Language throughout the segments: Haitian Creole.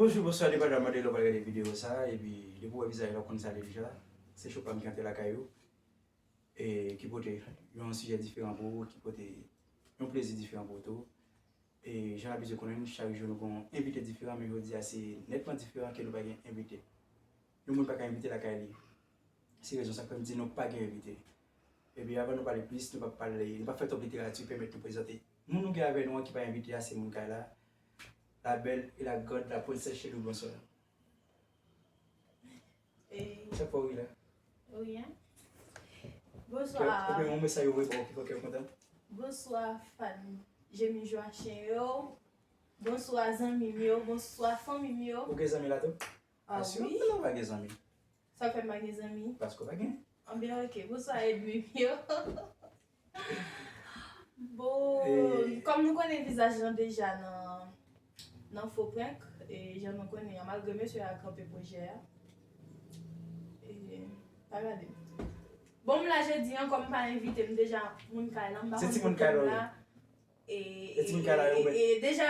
Bonjou bonswa depa dan mande lè wap gade video sa epi depi wè vizaj la ou konn sa lè deja se chopam ki antre lakay ou e ki pote yon sijè diferan pou ou ki pote yon plezi diferan pou ou tou. E jan n abitye konnen l, chak jou nou gen yon envite diferan men jodi a se nètman diferan ke nou pa gen envite. Yon moun pa ka envite lakay li. Se rezon sa k fè m di nou pa gen envite. Epi avan nou pale plis, nou pa pale, nou pa fè twòp literati, pèmèt nou prezante moun nou gen avè nou an ki pa envite a se moun kay la, la bèl e la grand la Princess Shelly Bronsor. Chak fwa ou wi la. Ou wi an. Bonswa. Ou gen yon mesaj ou vle ba ou ki fè kè ou kontan? Bonswa fan Jemmy Joachim yo. Bonswa zanmi m yo. Bonswa fanmi m yo. Ou gen zanmi la tou? Ah oui. Sinon kòman ou pa gen zanmi? Sa fè m pa gen zanmi? Paske ou pa gen. Anben ok. Bonswa edmi m yo. Bon, kòm nou konnen vizaj lan deja nan fo prank, e jan nou konnen an, malgre mesye a kanpe pwojè a, pa gade m. Bon m la jodi an, kòm m pa envite, m deja moun kay lan, m pa konn kote m la, e deja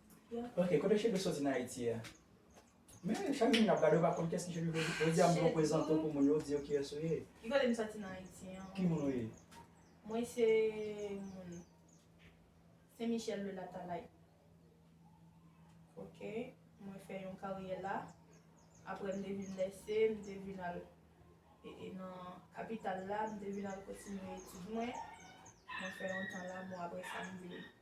Ok kote cheve soti nan ayiti a. Men chak jou nap gade ou pa konn kiyes ki cheve vre di. Jodia mwen prezante w pou moun yo di yo kiyes ou ye. Ki kote m soti nan ayiti an. Ki moun ou ye? Mwen se moun Sen Michel de Latalay. Ok mwen fè yon karyè la. Aprè m te vin lèse m te vin al e nan kapital la m te vin al kontinye etid mwen. Mwen fè yon tan la bon aprè sa m vin.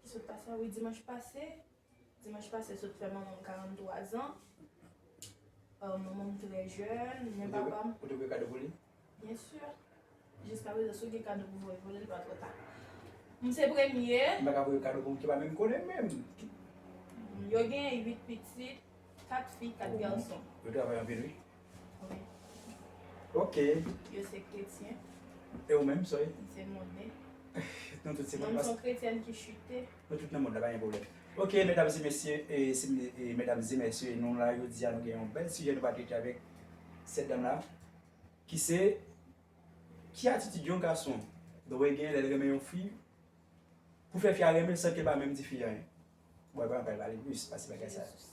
Ki sot pase a wi dimanch pase. Dimanch pase sot fè manman m 43 zan. Manman m trè jèn, men papa m. Ou te voye kado pou li? Byen si. Jiska prezan si w gen kado pou voye pou li, li pa twò ta. M se premye. M pa ka voye kado pou moun ki pa menm konnen menm. Yo gen 8 pitit, 4 fi, 4 gason. Yo travay anpil wi. Wi. Ok. Yo se kretyen. E ou menm, Soy? M se monnen. Nou tout se monnen. Mwen m s on kretyèn ki chite. Nou tout nan mond la, pa gen pwoblèm. Ok, medam e mesye, e medam e mesye, nou la jodi a nou gen yon bèl sijè nou va trete avèk sèt dam la ki se, ki atitid yon gason dwe gen lè l renmen yon fi pou fè fi a renmen l san ke l pa menm di fi a anyen? Bon, epa nou pral pale plis pase bagay sa. Jezis.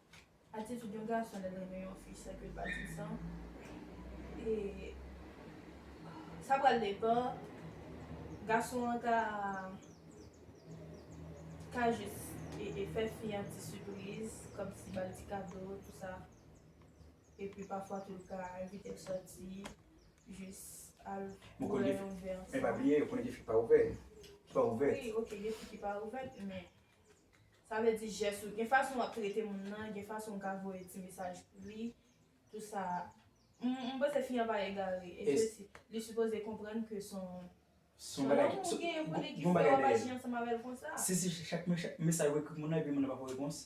Atitid yon gason lè l renmen yon fi san ke l pa di l sa, sa pral depan, gason an ka jis fè fi an ti sipriz, kòmsi ba l ti kado tou sa, epi pafwa tou l ka envite l sòti, jis al bwè yon vè ansanm. Men pa bliye, ou konnen gen fi ki pa ouvè. Wi, ok gen fi ki pa ouvè, men. Sa vle di jès ou, gen fason wap trete moun nan, gen fason ou ka voye ti mesaj pou li, tout sa a. M panse fi an pa egare, e ke si, li sipoze konprann ke son, son lanmou ou genyen pou li ki fè wap aji ansanm avèl konsa. Si se chak mesaj ou ekri pou moun nan epi moun nan pa pou repons?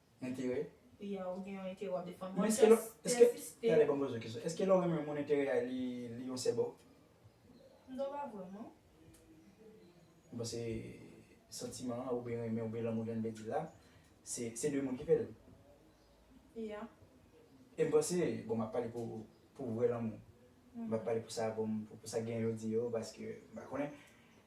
Enterè? Wi a ou gen yon enterè wap defann. Bon tè siste. Tande banm poze w kesyon. Eske lè w renmen yon moun enterè a li yon sè ba w? Mdo pa vwe w non. M panse santiman an oubyen renmen oubyen lanmou jan n vle di l la se 2 moun ki fè l. Ya. E m panse, bon map pale pou vrè lanmou. Map pale pou sa bon pou sa gen jodi yo paske m pa konnen.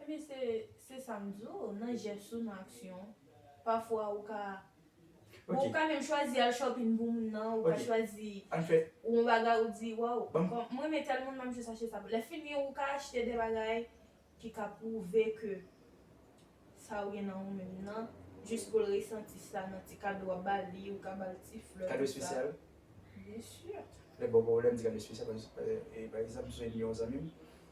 Ebyen se se sa m di w, nan jès ou, nan aksyon w. Pafwa ou ka Bon ou ka menm chwazi al shopping pou moun nan, ou ka chwazi yon bagay ou di waw m renmen tèl moun m ap jis achte sa pou l. Lèfini ou ka achte de bagay ki ka pwouve ke sa ou gen nan ou menm nan jis pou l resanti sa nan ti kado w ap ba li, ou ka ba l ti flè Kado espesyal? Byen sur. Lè m ba w kado m di kado espesyal paske pa egzanp m sonje m gen yon zanmi m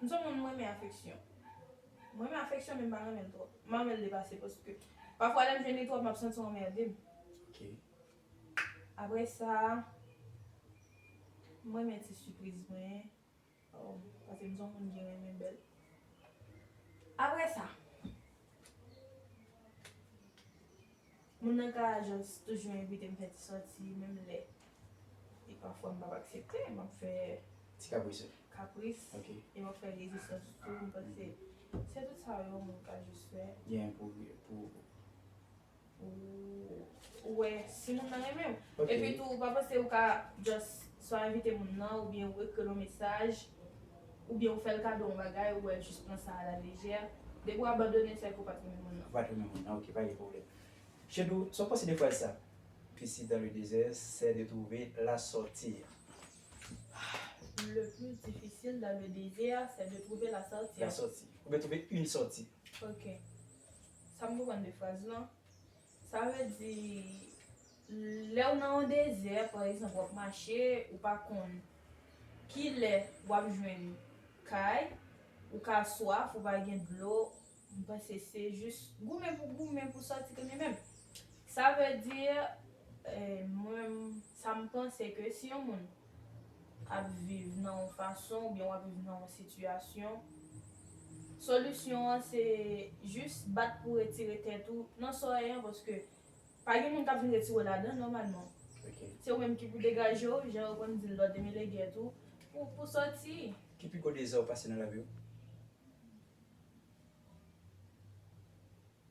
M son moun m renmen afeksyon. M renmen afeksyon men m pa renmen l twòp. M pa renmen l depase paske pafwa lè m jwenn li twòp m ap santi w anmède m. Aprè sa, m renmen ti sipriz mwen paske m son moun ki renmen bèl. Aprè sa. Moun nan ka just toujou envite m fè ti sòti menm lè e pafwa m pap aksepte, m ap fè ti kapris e m ap fè rezistans tou, m panse se tout sa yon moun ka just fè. Genyen pou ou wè si moun nan renmen w. Epi tou ou pa panse ou ka just swa envite moun nan oubyen ou ekri l yon mesaj. oubyen ou fè l kado yon bagay ou wè jis pran sa a la lejè, depi ou abandonen l sa vle di ou pa t renmen moun nan. Ou pa t renmen moun nan ok pa gen pwoblèm. Shedou, sa w panse de fraz sa? Piscine dans le désert, c'est de trouver la sortir. Le plus difficile dans le désert, c'est de trouver la sortir. La sortie. Oubyen trouver une sortie. Ok. Sa m konprann de fraz lan, Sa vle di lèw nan yon dezè pa egzanp wap mache ou pa konn kilè wap jwenn kay ou ka swaf ou pa gen dlo m panse se jis goumen pou goumen pou sòti konnen menm sa vle di mwen sa m panse ke si yon moun ap viv nan yon fason oubyen wap viv nan yon sitiyasyon, solisyon an se jis bat pou retire tèt ou nan sa w ye an paske pa gen moun kap vin retire w ladan nòmalman. Se ou menm ki pou degaje w, jan yo konn di l lò demele gè tou, pou sòti. Ki pi gwo dezè ou pase nan lavi w?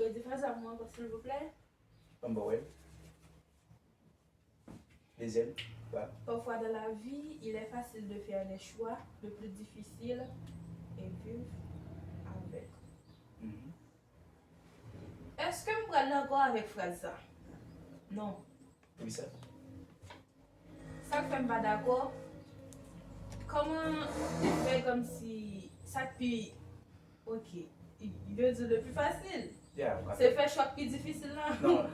Redi fraz la pou mwen ankò silvouplè. An ba w el. Dezyèm ba. Parfois dans la vie, il est facile de faire des choix, le plus difficile est vivre avec. Èske m pral dakò avèk fraz sa? Non. Wi sè. Sak fèm pa dakò Koman ou fè komsi sak pi ok yo diw le pi fasil se fè chwa k pi difisil nan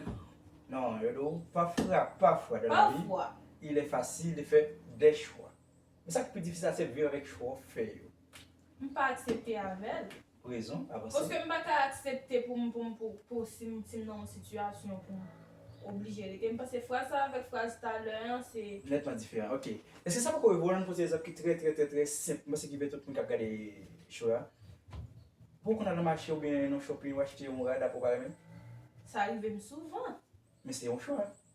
Non yo diw pafra pafwa de la vi il est facile de faire des choix men sak pi difisil la se viv avèk chwa w fè yo. M pa aksepte avèl. Rezon, avanse. Paske m pa ka aksepte pou m pou m pou pou si m si m nan yon sitiyasyon pou m oblije rete. M panse fraz sa avèk fraz talè an se. Nètman diferan. Ok. Eske sa poko rive w la m pote egzanp ki trè trè trè trè senp m panse ki pe tout moun k ap gade show a. Pou w konn al nan mache oubyen nan shopping ou achte yon rad aprè w pa renmen l? Sa rive m souvan. Men se yon chwa.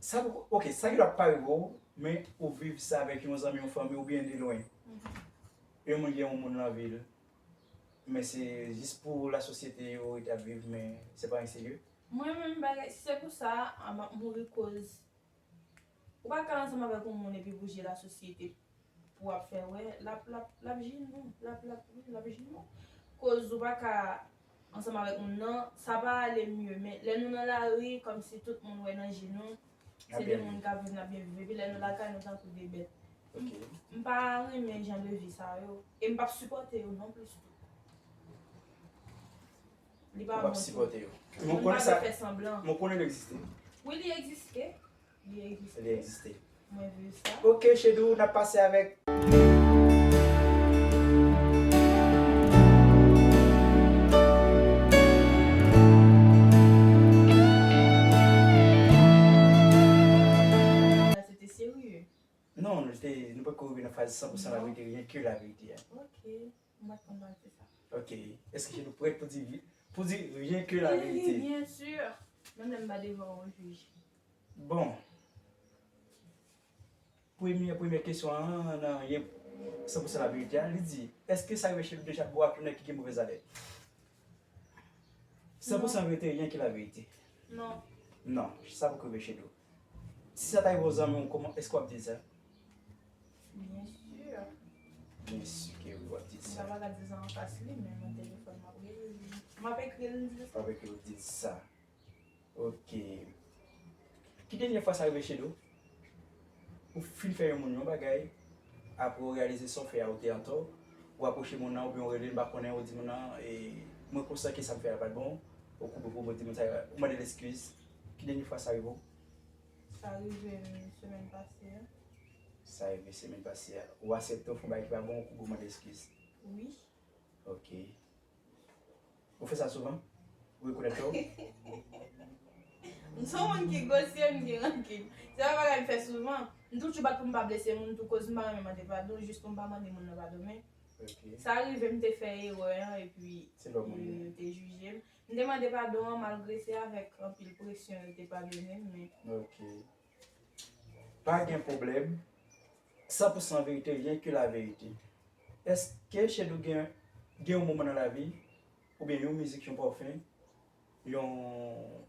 Sa poko ok, sa ki ta pa rive w, men ou viv sa avèk yon zanmi, yon fanmi oubyen de lwen. Yon moun gen yon moun lan vi l, men se jis pou la sosyete yo rete ap viv men se pa anyen serye. Mwen menm bagay, si se pou sa, map mouri koz ou pa ka ansanm avèk yon moun epi pou je la sosyete. Pou ap fè wè lap lap lap jinn nou lap lap wi lap jinn nou koz ou paka ansanm avèk moun nan sa pa ale mye men lè nou nan lari kòmsi tout moun wè nan je nou se de moun kap viv nap byen viv epi lè nou lakay nou tankou de bèt m pa renmen jan de vi sa yo e m pap sipòte yo non plis tou li pa bon tou moun pa dwe fè sanblan wi li egziste. Li egziste. Ok chedou nap pase avek. Non nou poko rive nan faz 100% laverite ryen ke laverite. Mwen pat konn valse sa. Ok eske nou prèt pou di vi pou di rien que la vérité? Wi wi bien sur menm lè m pa devan yon jij. Bon premye premye kesyon an nan rien san pou san la verite a li di eske sa rive chez Ludo Jacques bò ak yon nèg ki gen movèz alèt? San pou san verite rien que la vérité. Non. Non sa poko rive chez nou. Si sa ta yon zanmiw koman eske wap dil sa? Bien sûr. Bien sûr ke wi wap dil sa. Mwen paka dil sa anfas li men nan telefòn map rele li. Map ekril m dil sa. Wap ekril w dil sa. Ok. Ki dènye fwa sa rive Shedou? Ou fin fè yon moun yon bagay apre ou reyalize sa w fè a ou te antò, ou apwoche moun nan oubyen ou relel m pa konnen ou di moun nan mwen konsidan ke sa m fè a pat bon, ou koupe pou w, ou di moun sa, ou mandel eskiz, Ki dènye fwa sa rive w? Sa rive m semèn pase a. Sa rive semèn pase a. Ou asepte w fè yon bagay ki pa bon ou kouri w mande eskiz? Wi. Ok. Ou fè sa souvan? Ou rekonèt tò w? M se yon moun ki gosye, m gen rankin. Se pa yon bagay m fè souvan. M toujou bat pou m pa blese moun tou koz m pa renmen mande padon jis pou m pa mande moun nan padon men sa rive m te fè erè an epi yo te jije m. M te mande padon an malgre se avèk anpil presyon yo te padone m men. Ok. Pa gen pwoblèm. San pou san verite ryen ke la verite. Eske Shedou gen gen yon moman nan lavi oubyen yon mizik yon pòfem yon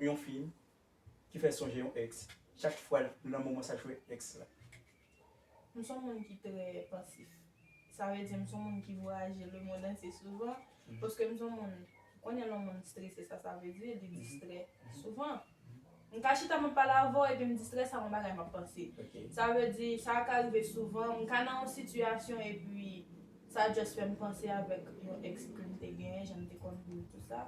yon fim ki fè sonje yon ex chak fwa nan moman sa jwe ex la. M son moun ki trè pansif. Sa vle di m son moun ki vwayaje le mond antye souvan paske m son moun konnen lè yon moun strese sa sa vle di li distrè souvan. M ka chita m ap pale avè w epi m distrè sa yon bagay m ap panse. Sa vle di sa ka rive souvan m ka nan yon sitiyasyon epi sa just fè m panse avèk yon ex ke m te genyen jan m te konn viv tout sa.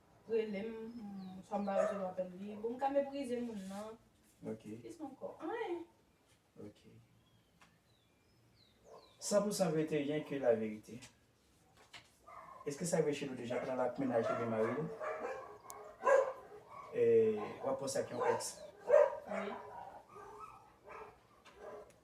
Relem swa m pa resevwa apel li. Bon m ka meprize moun nan. Ok. Kisa anko? Anyen. Ok. San pou san verite ryen ke la verite. Eske sa vre Shelo deja pran ak mennaj li oubyen maril? Wap poste ak yon ex? Wi.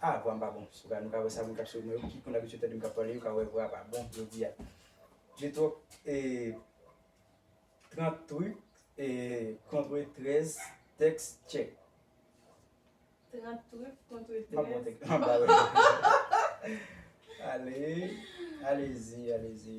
Ah vwa m pa bon sou bagay nou ka wè sa moun kap swiv mwen yo ki konn abitye tande m kap pale yo ka wè vwa a pa bon jodi a J'ai trop eh 30 trucs eh contre 13 tèks tchèk 30 trucs contre 13 Map bon tèks map ba yo Ale Alezi alezi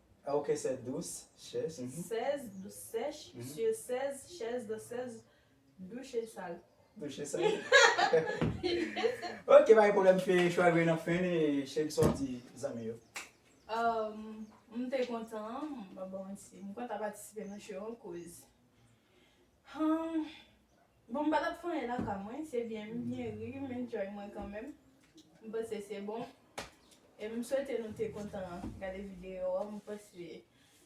Ok 16 dous chèz. 16 dous sèch sye 16 chèz dan 16 douche sal. Douche sal. Ok pa gen pwoblèm m fè chwa grenn an fen e chèz sa w di zanmi yo. M te kontan m kontan patisipe nan show an kouz. Humm bon m pa tap fè anyen nan ka mwen se byen m byen ri m enjoy mwen kanmenm m panse se bon e m swete nou te kontan gade video an m panse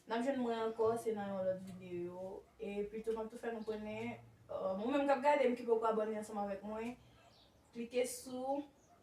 nap jwenn mwen ankò se nan yon lòt video e pito map tou fè nou konnen ou menm kap gade m ki poko abòne ansanm avèk mwen klike sou